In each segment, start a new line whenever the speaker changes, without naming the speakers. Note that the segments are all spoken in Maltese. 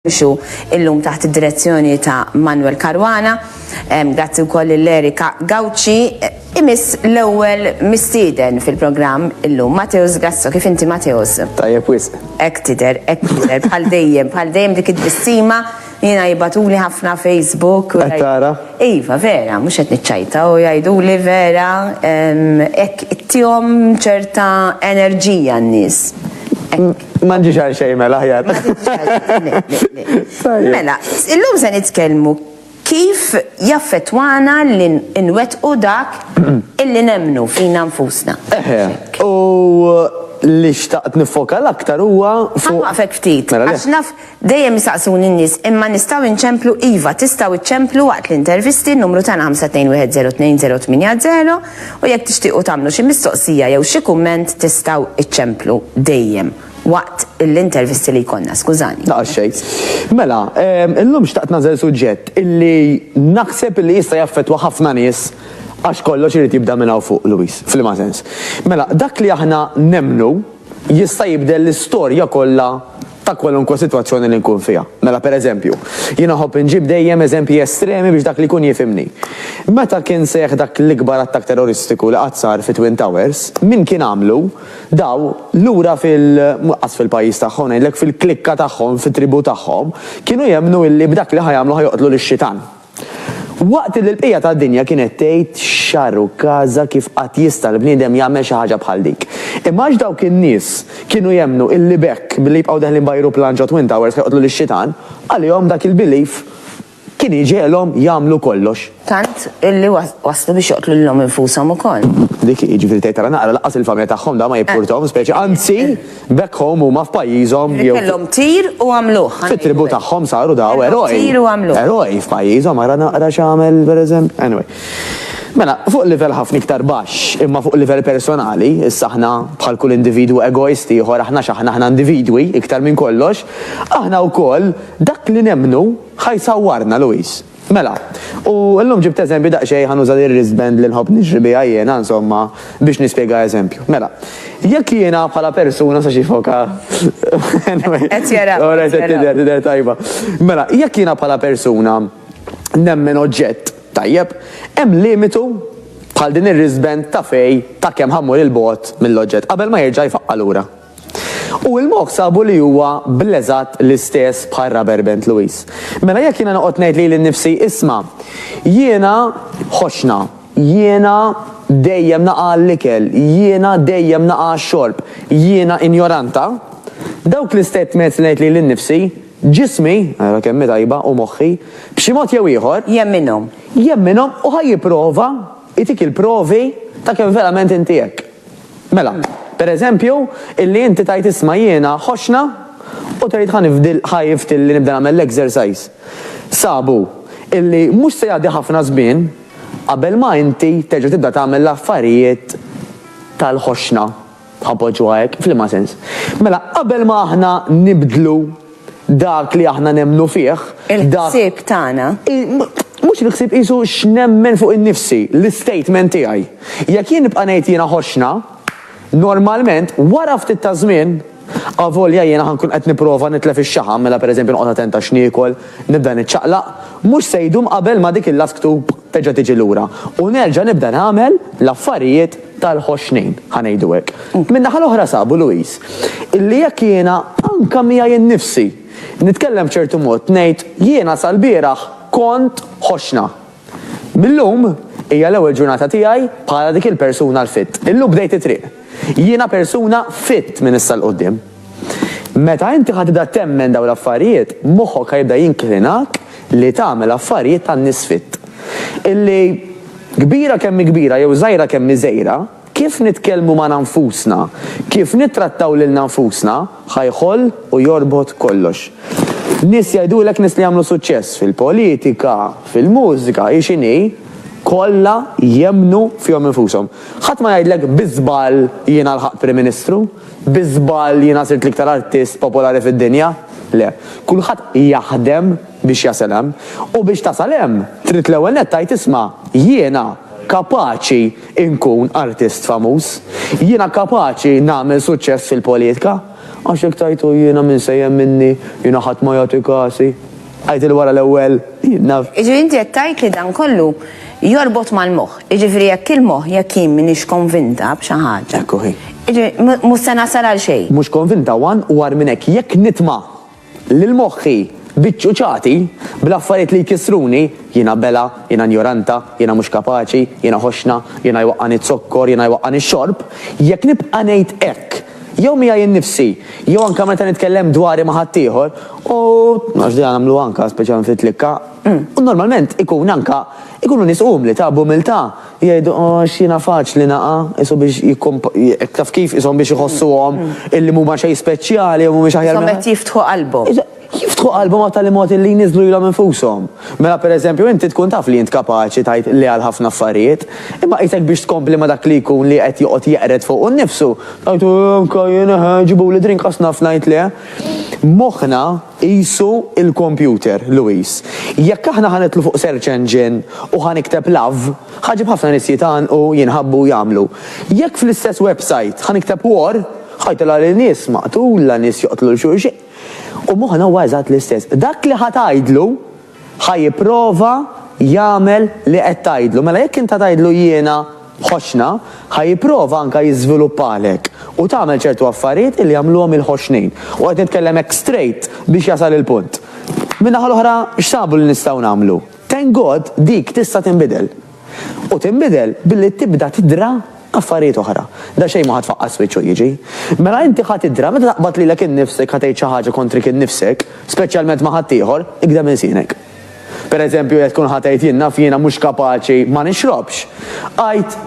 jimxu illum taħt id-direzzjoni ta' Manuel Caruana, grazzi wkoll lil Erika Gauci, imiss l-ewwel mistieden fil-programm illum, Mateus Grasso. Kif inti Mateus? Tajjeb wisq.
Hekk tidher, hekk
tidher, bħal dejjem, bħal dejjem dik it-tbissima, jiena jibgħatuli ħafna Facebook. Qed tara?
Iva, vera,
mhux qed niċċajta u jgħiduli vera hekk ittihom ċerta enerġija n-nies. Ma
nġiex għal xejn mela ħjar.
Mela, illum se nitkellmu kif jaffettwana li nwettqu dak illi nemmnu fina nfusna. Eħe, u
li xtaqt nifoka l-aktar huwa fuq. Ħanwaqfek ftit. Mela,
Dejjem isaqsuni n-nies, imma nistgħu inċemplu? Iva, tistgħu iċċemplu waqt l-intervisti, n-numru tagħna 5210280 u jekk tixtiequ tagħmlu xi mistoqsija jew xi kumment tistgħu iċċemplu dejjem waqt l-intervisti li jkollna, skużani. La xejn.
Mela, illum xtaqt nagħżel suġġett illi naħseb illi jista' jaffettwa ħafna nies għax kollox irid jibda minn hawn fuq, Louise, f'liema sens. Mela, dak li aħna nemmnu, jista' jibdel l-istorja kollha ta' kwalunkwe sitwazzjoni li nkun fiha. Mela, per eżempju, jiena nħobb inġib dejjem eżempji estremi biex dak li jkun jifhimni. Meta kien seħħ dak l-ikbar attakk terroristiku li qatt sar fit-Twin Towers, min kien għamlu? Daw, lura fil, qas fil-pajjiż tagħhom, ngħidlek fil-klikka tagħhom, fit-tribù tagħhom, kienu jemmnu illi b'dak li ħa jagħmlu ħa joqtlu lix-xitan. Waqt li l-bqija tad-dinja kienet tgħid x'għar u każa kif qatt jista' l-bniedem jagħmel xi ħaġa bħal dik. Imma għax dawk in-nies kienu jemmnu illi b'hekk, billi jibqgħu deħlin b'ajruplan ġo Twin Towers ħa joqtlu lix-Xitan, għalihom dak il-belief kien jġegħelhom jagħmlu kollox. Tant illi
waslu biex joqtlu lilhom infushom ukoll. Dik hi, jiġifieri tgħid
ara naqra, lanqas il-familja tagħhom dan ma jippurtahom speċi, anzi! Back home huma f'pajjiżhom jew. Li kellhom tir
u għamluh. Fit-tribù tagħhom saru
daw eroj. Tir u għamluh. Eroj
f'pajjiżhom
ara naqra x'għamel pereżempju. Anyway. Mela, fuq livell ħafna iktar baxx, imma fuq livell personali, issa aħna bħal kull individwu egoist ieħor aħna x'aħna aħna individwi iktar minn kollox, aħna wkoll dak li nemmnu ħa jsawwarna Louise. Mela, u llum ġibt eżempju daqsxejn ħa nuża l-wristband li nħobb niġri biha jiena, insomma, biex nispjega eżempju. Mela, jekk jiena bħala persuna sa xi foka anyway.
Qed jara. Ora qed tidher, tidher
tajba. Mela, jekk jiena bħala persuna nemmen oġġett, tajjeb, hemm limitu bħal din ir-wristband ta' fejn ta' kemm ħa mmur 'il bogħod mill-oġġett qabel ma jerġa' jfaqqa' lura. U l-moħħ sabu li huwa bl-eżatt l-istess bħal Rubber Band Louis. Mela jekk jiena noqgħod ngħid lili nnifsi, isma', jiena ħoxna, jiena dejjem naqa' għall-ikel, jiena dejjem naqa' għax-xorb, jiena injoranta, dawk l-istatements li ngħid lili nnifsi, ġismi, ara kemm hi tajba, u moħħi, b'xi mod jew ieħor, Jemminhom. jemminhom u ħa jipprova jtik il-provi ta' kemm verament inti hekk. Mela, per eżempju, illi inti tgħid isma' jiena ħoxna u tgħid ħa nifdi ħa jifti li nibda nagħmel l-exercise. Sabu illi mhux se jgħaddi ħafna żmien qabel ma inti terġa' tibda tagħmel l-affarijiet tal-ħoxna, ħa npoġġuha hekk, f'liema sens? Mela, qabel ma aħna nibdlu dak li aħna nemmnu fih, dak. Il-ħsieb
tagħna. Mhux
il-ħsieb qisu x'nemmen fuq innifsi, l-istatement tiegħi. Jekk jien nibqa' ngħid jiena ħoxna, normalment wara ftit ta' żmien, avolja jiena ħa nkun qed nipprova nitlef ix-xaħam, mela pereżempju noqgħod attent għax niekol, nibda niċċaqlaq, mhux se jdum qabel ma dik il-lasktu. terġa' tiġi lura u nerġa' nibda nagħmel l-affarijiet tal-ħoxnin, ħa ngħidu hekk. Min-naħa l-oħra sabu Louise, illi jekk jiena anke miegħi nnifsi nitkellem b'ċertu mod ngħid jiena sal-bieraħ kont ħoxna. Mil-lum hija l-ewwel ġurnata tiegħi bħala dik il-persuna l-fit. Illum bdejt it-triq. Jiena persuna fit minn issa 'l quddiem. Meta inti ħa tibda temmen dawn l-affarijiet, moħħok ħa jibda jinklinak li tagħmel affarijiet tan-nisfitt. Illi, kbira kemm hi kbira jew żgħira kemm hi żgħira, kif nitkellmu magħna nfusna, kif nittrattaw lilna nfusna, ħa jħoll u jorbot kollox. Nies jgħidulek, nies li għamlu suċċess fil-politika, fil-mużika, hi x'inhi, kollha jemmnu fihom infushom. Ħadd ma jgħidlek, bi żball jiena lħaqt Prim Ministru. Bi żball jiena sirt l-iktar artist popolari fid-dinja? Le. Kulħadd jaħdem biex jasal hemm. U biex tasal hemm, trid l-ewwel nett tgħid isma', jiena kapaċi nkun artist famuż. Jiena kapaċi nagħmel suċċess fil-politka. Għax jekk tgħid u jiena min se jemminni, jiena ħadd ma jagħti kasi. Għidtili wara l-ewwel jien naf. Jiġifieri inti qed tgħid
li dan kollu jorbot mal-moħħ. Jiġifieri jekk il-moħħ, jekk jien m'iniex konvinta b'xi ħaġa. Ekku hi. Jiġifieri
mhux se
nasal għal xejn. Mhux konvinta one
u agħar minn hekk jekk nitma' lil moħħi biċ-ċuċati, bl-affarijiet li jkissruni, jiena bela, jiena njoranta, jiena mhux kapaċi, jiena ħoxna, jiena jwaqqagħni z-zokkor, jiena jwaqqagħni x-xorb, jekk nibqa' ngħid hekk, jew miegħi nnifsi, jew anke meta nitkellem dwari ma' ħaddieħor, u, għax dejja nagħmluha anke speċjalment fit-tlikka, u normalment ikun anke, ikunu nies umli ta' b'umiltà, jgħidu, għax jiena faċli naqa', qisu biex jikkumpa, taf kif, qishom biex iħossuhom illi mhuma xejn speċjali jew mhumiex aħjar minn. Qishom qed jiftħu qalbhom.
Jiftħu qalbhom
għat-tagħlimoti li jniżżlu lilhom infushom. Mela pereżempju inti tkun taf li int kapaċi tgħid le għal ħafna affarijiet, imma qisek biex tkompli ma' dak li jkun li qed joqgħod jeqred fuqu nnifsu, tgħid anka jien eħe, ġibuli drink għax naf ngħid le. Moħħna qisu l-kompjuter, Louis. Jekk aħna ħa nidħlu fuq search engine u ħa nikteb love, ħa ġġib ħafna nies jitgħannqu, jinħabbu u jagħmlu. Jekk fl-istess website ħa nikteb war, ħa jtilgħali nies maqtula, nies joqtlu 'l xulxin. U moħħna huwa eżatt l-istess. Dak li ħa tgħidlu, ħa jipprova jagħmel li qed tgħidlu. Mela jekk int ħa tgħidlu jiena ħoxna, ħa jipprova anke jiżviluppalek u tagħmel ċertu affarijiet illi jagħmluhom il-ħoxnin. U qed nitkellem hekk straight biex jasal il-punt. Min-naħa l-oħra x'sabu li nistgħu nagħmlu? Thank God dik tista' tinbidel. u tinbidel billi tibda tidra affarijiet oħra. Daqsxejn ma ħa tfaqqas wiċċ u jiġi. Mela inti ħa tidra meta taqbad lilek innifsek ħa tgħid xi ħaġa kontrik innifsek, speċjalment ma' ħaddieħor, ikda minn sienek. Pereżempju jekk tkun ħa tgħid jien naf jiena mhux kapaċi ma nixrobx, għid,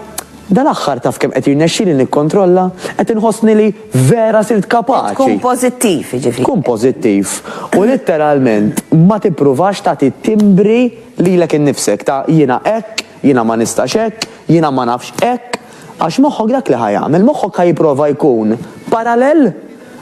Dal-aħħar taf kemm qed jirnexxieli nikkontrolla, qed inħossni li vera sirt kapaċi. Tkun pożittiv
jiġifieri. Kun pożittiv
u litteralment ma tippruvax tagħti timbri Lilek innifsek, ta' jiena hekk, jiena ma nistax hekk, jiena ma nafx hekk, għax moħħok dak li ħa jagħmel, moħħok ħa jipprova jkun parallel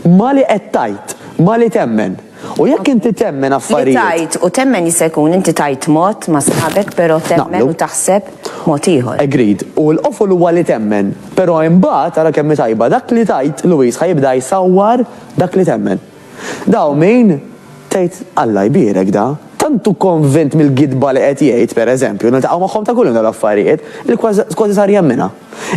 ma' li qed tgħid, ma' li temmen. U jekk inti temmen affarijiet. Li tgħid u temmen jista'
jkun inti tgħid mod ma' sħabek però temmen u taħseb mod ieħor. Agreed. U l-qofol
huwa li temmen. Però imbagħad, ara kemm hi tajba, dak li tgħid, Louise, ħa jibda jsawwar dak li temmen. Da hu min, tgħid, Alla jbierek da, tant hu konvint mill-gidba li qed jgħid, per eżempju, niltaqgħu magħhom ta' kuljum dawn l-affarijiet, li kważi sar jemminha.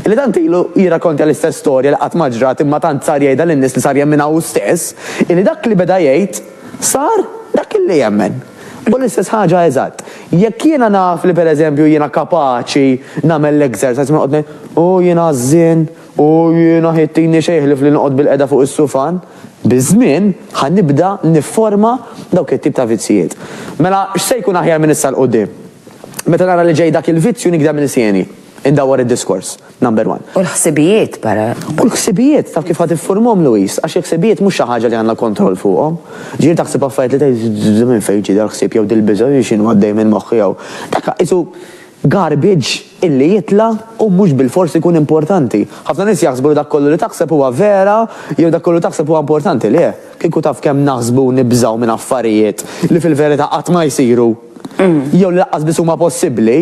Illi tant ilu jirrakontja l-istess storja li qatt ma ġrat imma tant sar jgħidha lin-nies li sar jemminha hu stess, illi dak li beda jgħid, sar dak illi jemmen. U l-istess ħaġa eżatt, jekk jiena naf li per eżempju jiena kapaċi nagħmel l-exercise u noqgħod ngħid, Hu jien għażżien, U jiena ħi ttini xejn ħlief li noqgħod bilqiegħda fuq is-sufan. Biż-żmien, ħa nibda nifforma dawk it-tip ta' vizzjiet. Mela, x'se jkun aħjar minn issa 'l quddiem? Meta nara li ġej dak il-vizzju nikda minn sieni. Indawwar id-diskors. Number one. U l-ħsibijiet, Para?
U l-ħsibijiet,
taf kif ħa tiffurmahom, Louise? Għax il-ħsibijiet mhux xi ħaġa li għandna kontroll fuqhom. Ġieli taħseb affarijiet li tgħid, 'Minn fejn ġie dal-ħsieb jew dil-biża', x'inhu għaddej minn moħħi jew. Dak qisu garbage. illi jitla' u mhux bilfors ikun importanti. Ħafna nies jaħsbu li dak kollu li taħseb huwa vera jew dak kollu li taħseb huwa importanti. Le, kieku taf kemm naħsbu u nibżgħu minn affarijiet li fil-verità qatt ma jsiru jew li laqqas biss huma possibbli,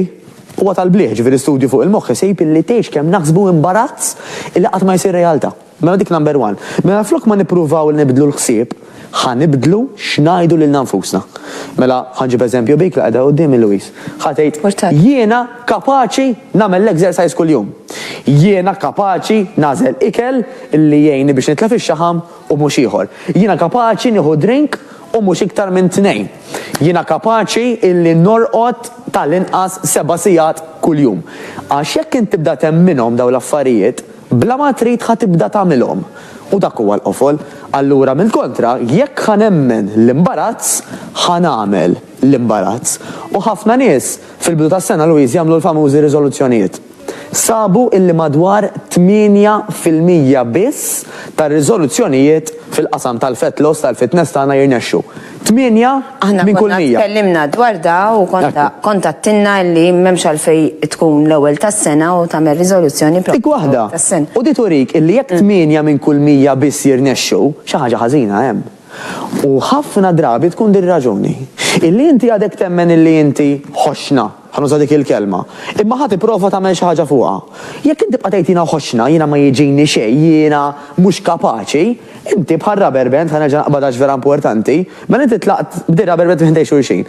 huwa tal-blieh, jiġifieri studju fuq il-moħħ isib illi tgħix kemm naħsbu imbarazz illi qatt ma jsir realtà. Mela dik number one. Mela flok ma nippruvaw li nibdlu l-ħsieb, ħa nibdlu x'ngħidu lilna nfusna. Mela, ħa nġib eżempju bik li qiegħda quddiemi Louise. Ħa tgħid, Jiena kapaċi nagħmel l-exercise kuljum. Jiena kapaċi nagħżel ikel li jgħinni biex nitla' fix-xaħam u mhux ieħor. Jiena kapaċi nieħu drink u mhux iktar minn tnejn. Jiena kapaċi li norqod tal-inqas seba' sigħat kuljum. Għax jekk int tibda temminhom dawn l-affarijiet, Bla ma trid ħa tibda tagħmilhom. U dak huwa l-qofol. Allura mill-kontra, jekk ħa nemmen l-imbarazz, ħa nagħmel l-imbarazz. U ħafna nies, fil-bidu tas-sena, Louise, jagħmlu l-famużi riżoluzzjonijiet. Sabu illi madwar 8 fil-mija biss tar-riżoluzzjonijiet fil-qasam tal-fat loss, tal-fitness tagħna jirnexxu. Tmienja minn kull mija. Aħna konna tkellimna dwar
da u kont għadtilna li m'hemmx għalfejn tkun l-ewwel tas-sena u tagħmel riżoluzzjoni propju fl-ewwel tas-sena.
U di turik illi jekk tmienja minn kull mija biss jirnexxu, xi ħaġa ħażina hemm. U ħafna drabi tkun di r-raġuni. Illi inti għadek temmen illi inti ħoxna. Ħa nuża dik il-kelma. Imma ħa tipprova tagħmel xi ħaġa fuqha. Jekk int tibqa' tgħid jiena ħoxxna, jiena ma jiġini xejn, jiena mhux kapaċi, inti bħal rubber band, ħa nerġa' naqbad għax vera importanti, mela inti tlaqt b'din rubber band minn ħdejn xulxin.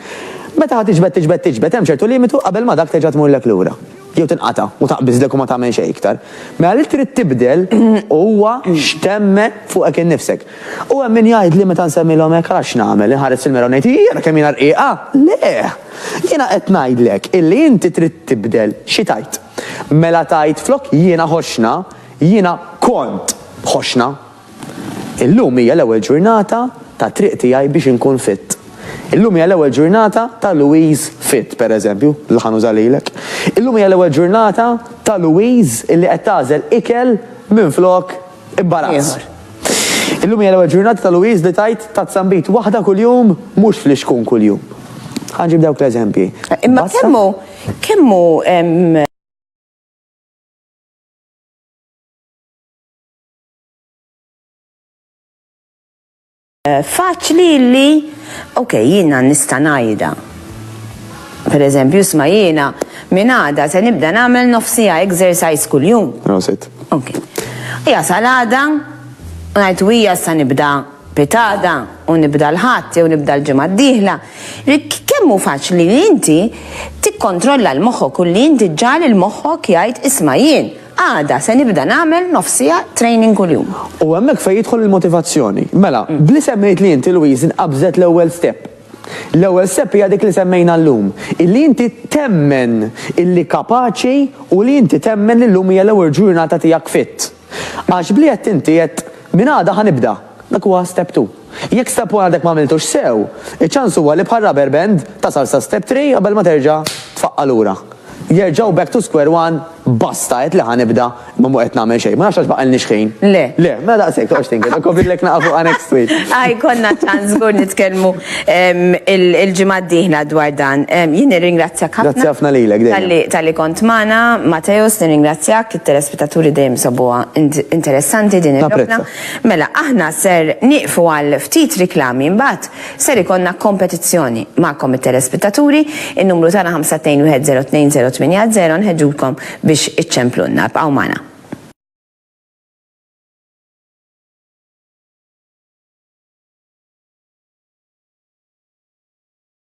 Meta ħa tiġbed tiġbed tiġbed hemm ċertu limitu qabel ma dak terġa' tmurlek lura. Jew tinqata' u taqbiżlek u ma tagħmel xejn iktar. Mela li trid tibdel huwa x'temmen fuqek innifsek. U hemm min jgħidli meta nsemmilhom hekk, ara x'nagħmel, inħares fil-mera u ngħid, ii ara kemm jiena rqiqa! Le! Jiena qed ngħidlek illi inti trid tibdel xi tgħid. Mela tgħid flok jiena ħoxna, jiena kont ħoxna. Illum hija l-ewwel ġurnata ta' triq tiegħi biex inkun fit. Illum hija l-ewwel ġurnata ta' Louise fit, pereżempju, li ħa nuża lilek. Illum hija l-ewwel ġurnata ta' Louise illi qed tagħżel ikel minflok Imbarazz. Illum hija l-ewwel ġurnata ta' Louise li tgħid tazzambit waħda kuljum mhux flixkun kuljum. Ħanġib dawk l-eżempji. Imma kemmu
kemmu Faċli li, ok, jiena nista' ngħidha. Per eżempju, sma jiena minn għada se nibda nagħmel nofsija exercise kuljum. Prosit. Ok. Ija salada, u ngħid hija sa nibda pitada u nibda l-ħadd jew nibda l-ġimgħa d-dieħla. Kemm hu faċli li inti tikkontrolla l-moħħok u li inti ġġagħal il-moħħok jgħid isma' jien. Għada se nibda nagħmel nofs siegħa training kuljum. U hemmhekk fejn jidħol
il-motivazzjoni. Mela, bli semmejt li inti Louise inqabżet l-ewwel step. L-ewwel step hija dik li semmejna llum, illi inti temmen illi kapaċi u li inti temmen li llum hija l-ewwel ġurnata tiegħek fit. Għax bli għedt inti għedt, minn għada ħa nibda. Dak huwa step two. Jekk step one għadek m'għamiltux sew, iċ-ċans huwa li bħal rubber band tasal sa step three qabel ma terġa' tfaqqa' lura. Jerġa' u back to square one, basta għedt li ħa nibda imma mhu qed nagħmel xejn. Ma nafx għax baqgħalniex ħin. Le. Le, mela
daqshekk toqgħodx
tinked, ok fidlek naqa' fuqha next week. Ah, jkollna ċans
żgur nitkellmu il-ġimgħa d-dieħla dwar dan. Jien nirringrazzjak ħafna. Grazzi ħafna lilek dejjem.
Talli kont magħna,
Mateusz, nirringrazzjak, it-telespettaturi dejjem isobuha interessanti din il-logħba. Mela aħna ser nieqfu għal ftit riklami imbagħad ser ikollna kompetizzjoni. Magħkom it-telespettaturi, in-numru tagħna 521-02-080 nħeġġulkom biex iċċemplulna. Ibqgħu magħna.